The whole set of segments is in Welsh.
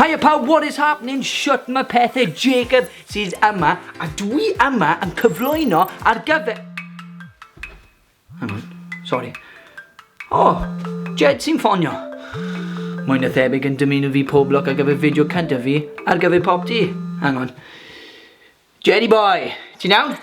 Hiya pawb, what is happening? Shut my pethau, Jacob sydd yma, a dwi yma yn cyflwyno ar gyfer... Hang on, sorry. Oh, Jed sy'n ffonio. Mae'n y thebyg yn dymuno fi pob lwc ar gyfer fideo cyntaf fi ar gyfer pop di. Hang on. Jerry boy, ti'n iawn?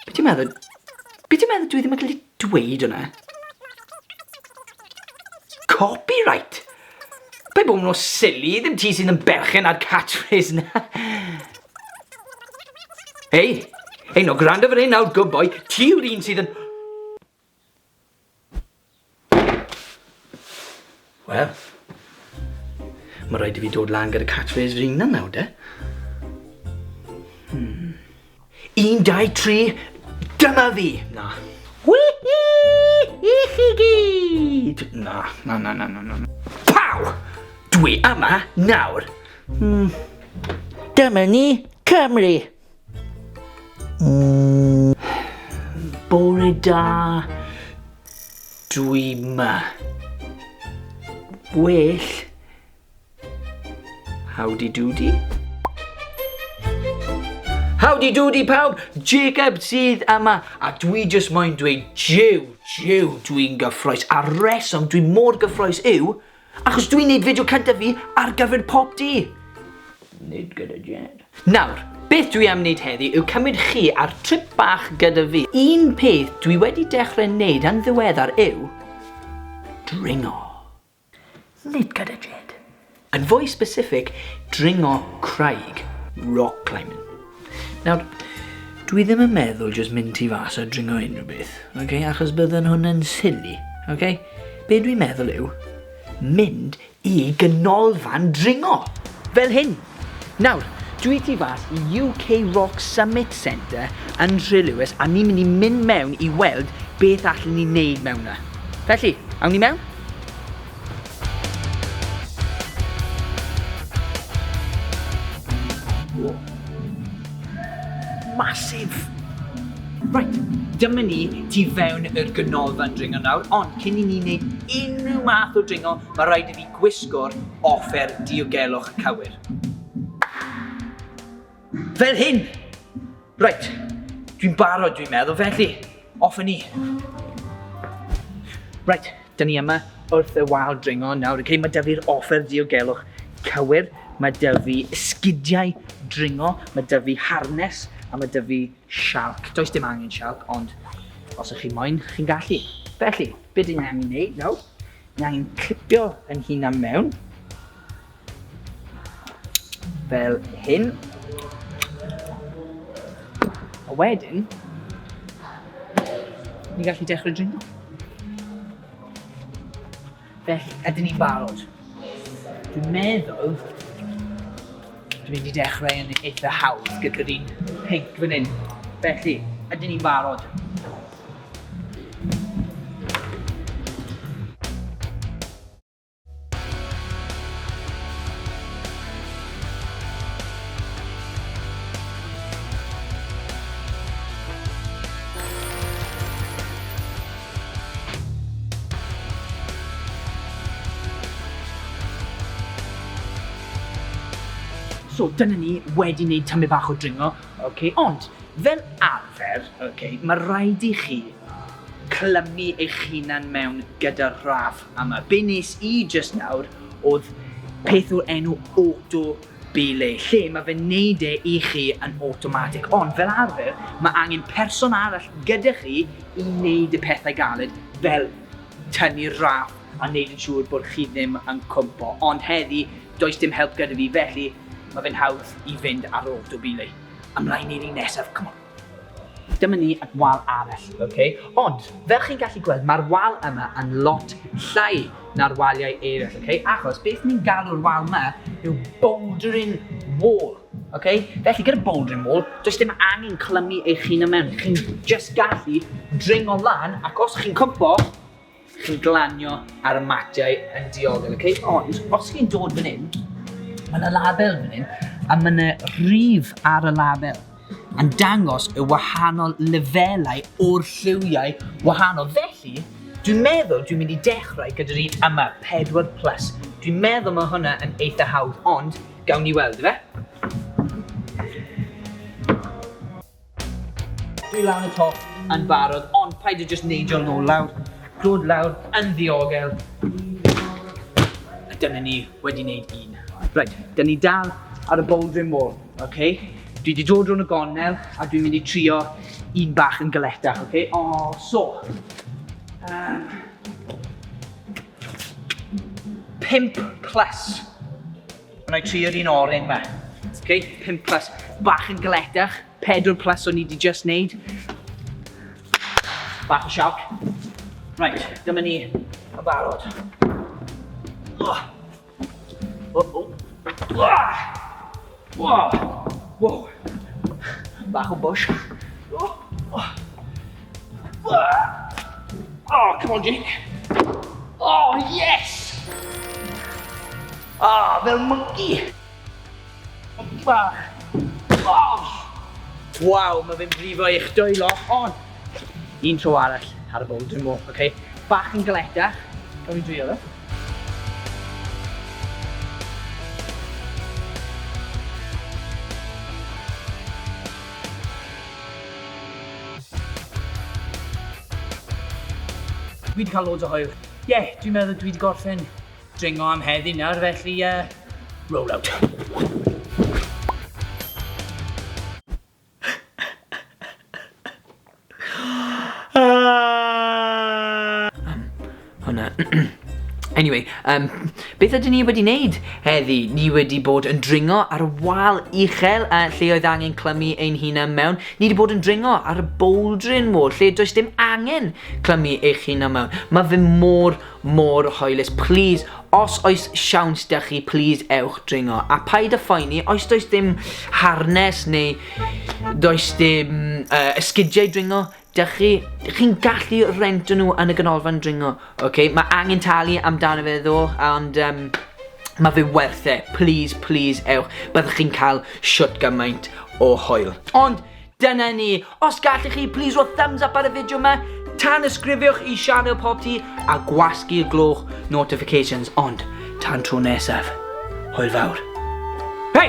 Be ti'n meddwl? Be ti'n meddwl dwi ddim yn gallu dweud hwnna? Copyright! Be bod nhw'n silly, ddim ti sy'n yn berchen ar catchphrase na. Hei, hei no, gwrando fan hyn nawr, good boy, ti yw'r un sydd yn... Wel, ma' raid i fi dod lan gyda catchphrase fy hunan nawr de. Hmm. Un, dau, tri, dyma fi! Na. Wihi! I chi gyd! Na, na, na, na, na, na. Pow! Dwi yma nawr. Hmm. Dyma ni, Cymru! Uh... Bore da, dwi ma. Well, howdy doody. Howdy doody pawb, Jacob sydd yma a dwi just moyn dweud jiw, jiw dwi'n gyffroes a reswm dwi mor gyffroes yw Achos dwi'n neud fideo cyntaf fi ar gyfer Pop D! Nid gyda Jed. Nawr, beth dwi am neud heddi yw cymryd chi ar trip bach gyda fi. Un peth dwi wedi dechrau neud yn ddiweddar yw dringo. Nid gyda Jed. Yn fwy specific, dringo craig. Rock climbing. Nawr, dwi ddim yn meddwl jyst mynd ti fas a dringo unrhyw beth, okay? achos bydden hwn yn silly, okay? Be dwi'n meddwl yw, mynd i gynolfan dringo, fel hyn. Nawr, dwi ti fas i UK Rock Summit Centre yn Nhre Lewis a ni'n mynd i mynd mewn i weld beth allan ni'n neud mewn na. Felly, awn ni mewn? Massive! Reit, dyma ni tu fewn i'r ganolfan dringo nawr, ond cyn i ni wneud unrhyw math o dringo, mae rhaid i fi gwisgo'r offer diogelwch cywir. Fel hyn! Reit, dwi'n barod dwi'n meddwl, felly, off ni. Reit, dyn ni yma wrth y wal dringo nawr. Cyn mae dyfu'r offer diogelwch cywir, mae dyfu esgidiau dringo, mae dyfu harnes a mae dyfu sialc. Does dim angen sialc, ond os ych chi moyn, chi'n gallu. Felly, beth ni'n angen ei wneud nawr? Ni'n angen clipio yn hun am mewn. Fel hyn. A wedyn, ni gallu dechrau dringo. Felly, ydyn ni'n barod. Dwi'n meddwl, dwi'n mynd i dechrau yn eitha hawdd gyda'r un pink fan hyn. Felly, ydyn ni'n barod. So, dyna ni wedi wneud tamaid bach o dringo, okay? ond fel arfer, okay, mae rhaid i chi clymu eich hunan mewn gyda'r rhaf. A ma be nes i jyst nawr odd peth o'r enw auto belay lle ma fe'n neud e i chi yn awtomatic ond fel arfer ma angen person arall gyda chi i neud y pethau galed fel tynnu'r raff a neud yn siŵr bod chi ddim yn cwmpo ond heddi does dim help gyda fi felly ma fe'n hawdd i fynd ar auto belay. Ymlaen i'r un nesaf, come on! Dyma ni at wal arall, ok? Ond, fel chi'n gallu gweld, mae'r wal yma yn lot llai na'r waliau eraill, ok? Achos beth ni'n galw'r wal yma yw bouldering wall, ok? Felly, gyda bouldering wall, does dim angen clymu eich hun yma, chi'n just gallu dringo lan, ac os chi'n cwmpo, Chi'n glanio ar y matiau yn diogel, okay? Ond os chi'n dod fan hyn, mae yna label fan hyn, a mae yna rif ar y label yn dangos y wahanol lefelau o'r lliwiau wahanol. Felly, dwi'n meddwl dwi'n mynd i dechrau gyda'r un yma, 4 plus. Dwi'n meddwl mae hwnna yn eitha hawdd, ond gawn ni weld, fe? Dwi lan y top yn barod, ond paid â jyst neidio nôl lawr. Dod lawr yn ddiogel. A dyna ni wedi wneud un. Right, dyn ni dal ar y bouldering wall, ok? Dwi wedi dod rhwng y gonel a dwi'n mynd i trio un bach yn galetach, ok? O, oh, so. Um, pimp plus. Wna i trio'r un oren ma. Ok, 5 plus. Bach yn galetach, 4 plus o'n i di just neud. Bach o sioc. Right, dyma ni yn barod. Oh. Oh, oh. Wow. Wow. Bach o bush. Oh. Oh. Oh, come on, Jake. Oh, yes! Ah, oh, fel monkey. Monkey bach. Oh! Waw, mae fe'n brifo eich dwylo, ond un tro arall ar y bowdr mo, oce? Okay? Bach yn galeta, gawn ni drio fe. Dwi 'di cael loads o hwyl. Ie, dwi'n meddwl dwi 'di gorffen dringo am heddi nawr, felly yy, roll out. Aaahh! Hwnna. Anyway, um, beth ydyn ni wedi wneud heddi? Ni wedi bod yn dringo ar y wal uchel a lle oedd angen clymu ein hunan mewn. Ni wedi bod yn dringo ar y bouldering wall lle does dim angen clymu eich hunan mewn. Mae fy mor, mor hoelus. Please, os oes siawns da chi, please ewch dringo. A paid a phoeni, oes does dim harnes neu does dim uh, esgidiau dringo, Dych chi, dych chi'n gallu rento nhw yn y ganolfan dringo. Ok, mae angen talu amdano fe ddo, ond um, mae fe werth e. Please, please, ewch. Byddwch chi'n cael siwt gymaint o hoel. Ond, dyna ni. Os gallwch chi, please, roi thumbs up ar y fideo yma. Tan ysgrifiwch i Sianel Pob Ti a gwasgu y gloch notifications. Ond, tan tro nesaf, hwyl fawr. Hei!